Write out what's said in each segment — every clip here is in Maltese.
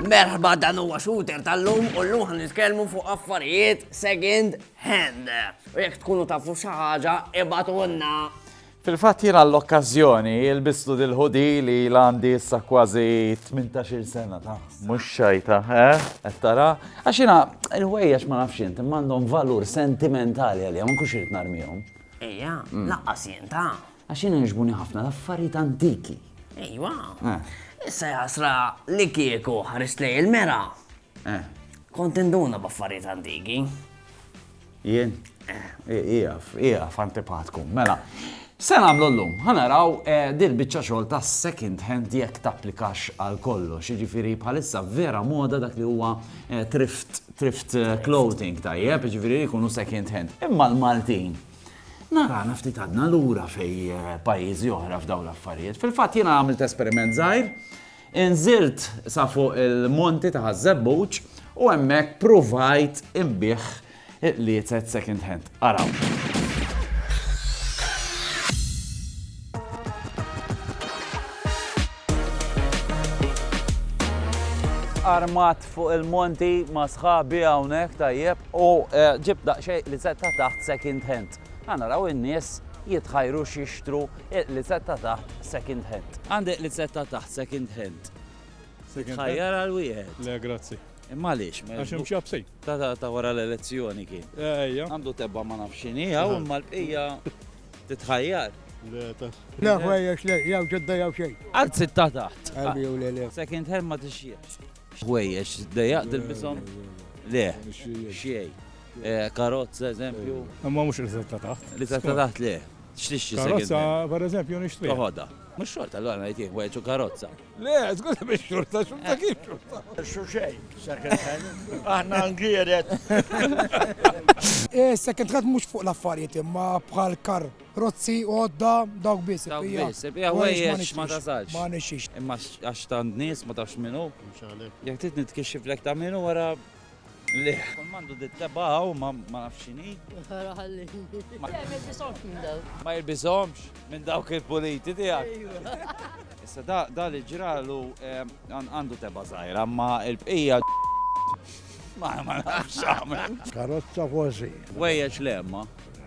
Merħba dan huwa shooter tal-lum u l-lum ħan nitkellmu fuq affarijiet second hand. U jekk tkunu tafu xi ħaġa, ibatulna. Fil-fatt jien għall-okkażjoni lbistu dil-ħudi li ilha għandi issa kważi tmintax-il sena ta'. Mhux xajta, eh? Qed tara? Għax jiena l-ħwejjeġ ma nafx int, imma għandhom valur sentimentali għalija, ma nkunx irid narmihom. Ejja, lanqas jien ta'. Għax jiena jogħġbuni ħafna l-affarijiet antiki. Ejwa. Issa jasra li kieku ħarist lejn il-mera. Kont induna b'affarijiet antiki. Jien? Ieqaf, ieqaf antipatku. Mela, x'se nagħmlu llum? Ħa naraw din il-biċċa xogħol ta' second hand jekk tapplikax għal kollox. Jiġifieri bħalissa vera moda dak li huwa thrift, thrift clothing tajjeb, jiġifieri jkunu second hand. Imma l-Maltin narana ftit għadna lura fej pajjiżi oħra f'dawn l-affarijiet. Fil-fatt jiena għamilt esperiment żgħir Inżilt sa fuq il-monti ta' Ħaż-Żebbuġ u hemmhekk pruvajt inbigħ il-qliezet second hand. Araw. armat fuq il-monti ma' sħabi hawnhekk tajjeb u eh, ġib daqsxejn li se ta' taħt second hand. Għana raw in-nies jitħajru xixtru Il-lizzetta taħt second hand. Għandek lizzetta taħt second hand. Tħajjar għal wieħed. Le, grazzi. Imma għaliex? Għax hemm xi Ta' ta' ta' wara l-elezzjoni kien. Ejja. Għandu tebba ma nafx x'inhi, hawn imma l-bqija titħajjar. Le ħwejjex le, jew ġodda jew xejn. Għad sitta taħt. Għalbi u le le. Second hand ma tixjiex. Ħwejjex dejjaq dilbishom? Le, xejn. Eh, karozza eżempju. Imma mhux il-sitta taħt. Li sitta taħt le. X'tixtri second hand? Karozza, pereżempju, nixtriha. Toħodha. Mhux xorta, allura ngħid jien, weġġu karozza. Le, żgur li mhix xorta, xorta kif xorta? Xu xejn, second hand. Aħna ngiered. Second hand mhux fuq l-affarijiet imma bħal kar. Rozzi, għodda, dawk biss. Dawk biss, ibqija ħwejjeġ ma tasalx. Ma nixxix. Imma għax tant nies ma tafx min hu. Jekk trid nitkixxiflek ta' min hu wara Lih. Kull mandu dit tebba hawn ma nafx x'inhi. Ara ħalli. Ma jilbishomx minn dawk. Ma jilbishomx minn dawk il-puliti tiegħek. Issa da da li ġralu għandu tebba żgħira, ma l-bqija ma ma nafx għamel. Karozza kważi. Wejjeġ lemma.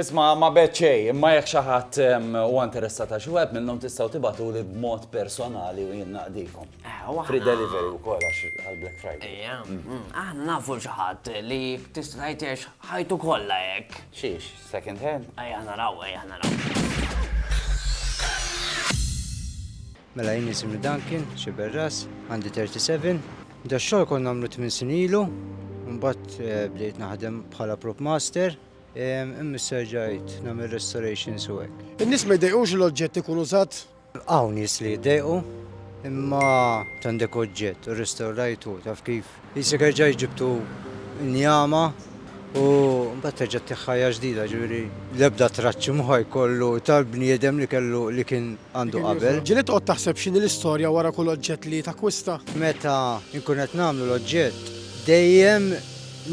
Isma', ma bgħedt xejn, imma jekk xi ħadd huwa interessat għal xi wieħed minnhom tistgħu tibagħtuli b'mod personali u jien naqdikom. Free delivery wkoll għax għall-Black Friday. Ejja. Aħna nafu xi ħadd li tista' tgħid għex ħajtu kollha hekk. Xiex, second hand? Ejja naraw, ejja naraw. Mela jien isimni Duncan, Sciberras, għandi 37. Dax-xogħol kont nagħmlu tmien snin ilu, imbagħad bdejt naħdem bħala prop master. Imma serġajt nagħmel restorations u hekk. In-nies ma jdejqux li l-oġġett ikun użat? Hawn nies li jdejqu, imma għandek oġġett u rrestawrajtu taf kif. Isek erġajt ġibtu njama u mbagħad terġa' tih ħajja ġdida, ġifieri l-ebda traċċi mhu ħa jkollu tal-bniedem li kellu li kien għandu qabel. Ġili toqgħod taħseb x'inhi l-istorja wara kull oġġett li takkwista? Meta nkun qed nagħmlu l-oġġett, dejjem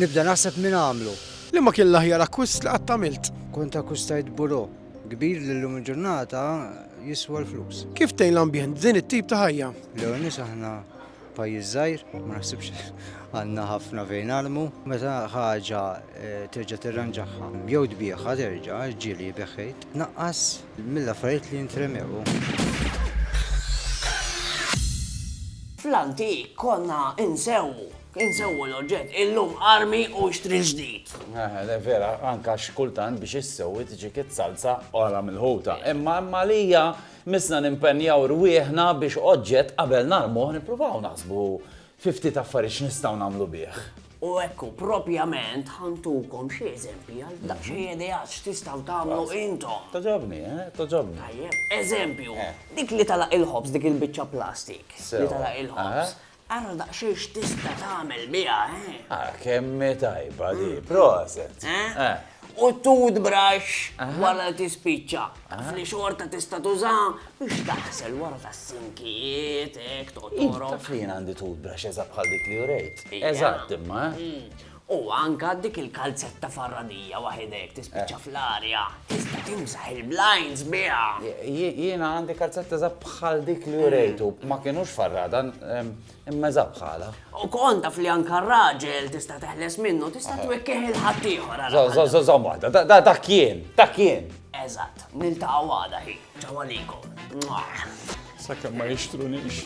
nibda naħseb min għamlu. Liema kien l-aħjar akkwist li qatt għamilt? Kont akkwistajt burò kbir li llum il-ġurnata jiswa l-flus. Kif tgħin l-ambjent din it-tip ta' ħajja? L-ewwel nies aħna pajjiż żgħir, ma naħsibx għandna ħafna fejn nagħlmu. Meta ħaġa terġa' tirranġaha jew tbiegħha terġa', ġieli jbigħ ħejt, tnaqqas mill-affarijiet li jintremew. Fl-antik konna insewwu. Insewwu l-oġġett, illum armi u xtri l-ġdid. Eħe, vera, anke għax kultant biex issewwi tiġik is-salsa oħra milħuta. Imma hemm għalija missna nimpenjaw rwieħna biex oġġett qabel narmuh nippruvaw naħsbu fi ftit affarijiet x'nistgħu nagħmlu bih. U hekk hu, propjament ħa ntukom xi eżempji għal daqsxejn ideat x'tistgħu tagħmlu intom. Togħġobni, eh? Togħġobni. Tajjeb, eżempju, dik li tagħlaq il-ħobż, dik il-biċċa plastik li tagħlaq il-ħobż. Ara daqsxejn x'tista' tagħmel biha, eh? Ah, kemm hi tajba di, mm. proset. Eh? eh? U toothbrush wara li tispiċċa. Fli xorta tista' tuża biex taħsel wara tas-sinkijiet, hekk toqgħod. Taf li jien għandi toothbrush eżatt bħal dik li urejt. Eżatt imma. Eh? Mm. U anke dik il-kalzetta farradija waħedha jekk tispiċċa fl-arja, tista' timsaħ il-blinds biha! Jiena għandi kalzetta eżatt bħal dik li urejt u ma kinux farrada, imma eżatt bħalha. U kont taf li anke r-raġel tista' teħles minnu, tista' twekkih lil ħaddieħor għal ħaġa. Żomm waħda, dak jien, dak jien! Eżatt, niltaqgħu għada hi, ċaw għalikom. Sakemm ma jixtrunix.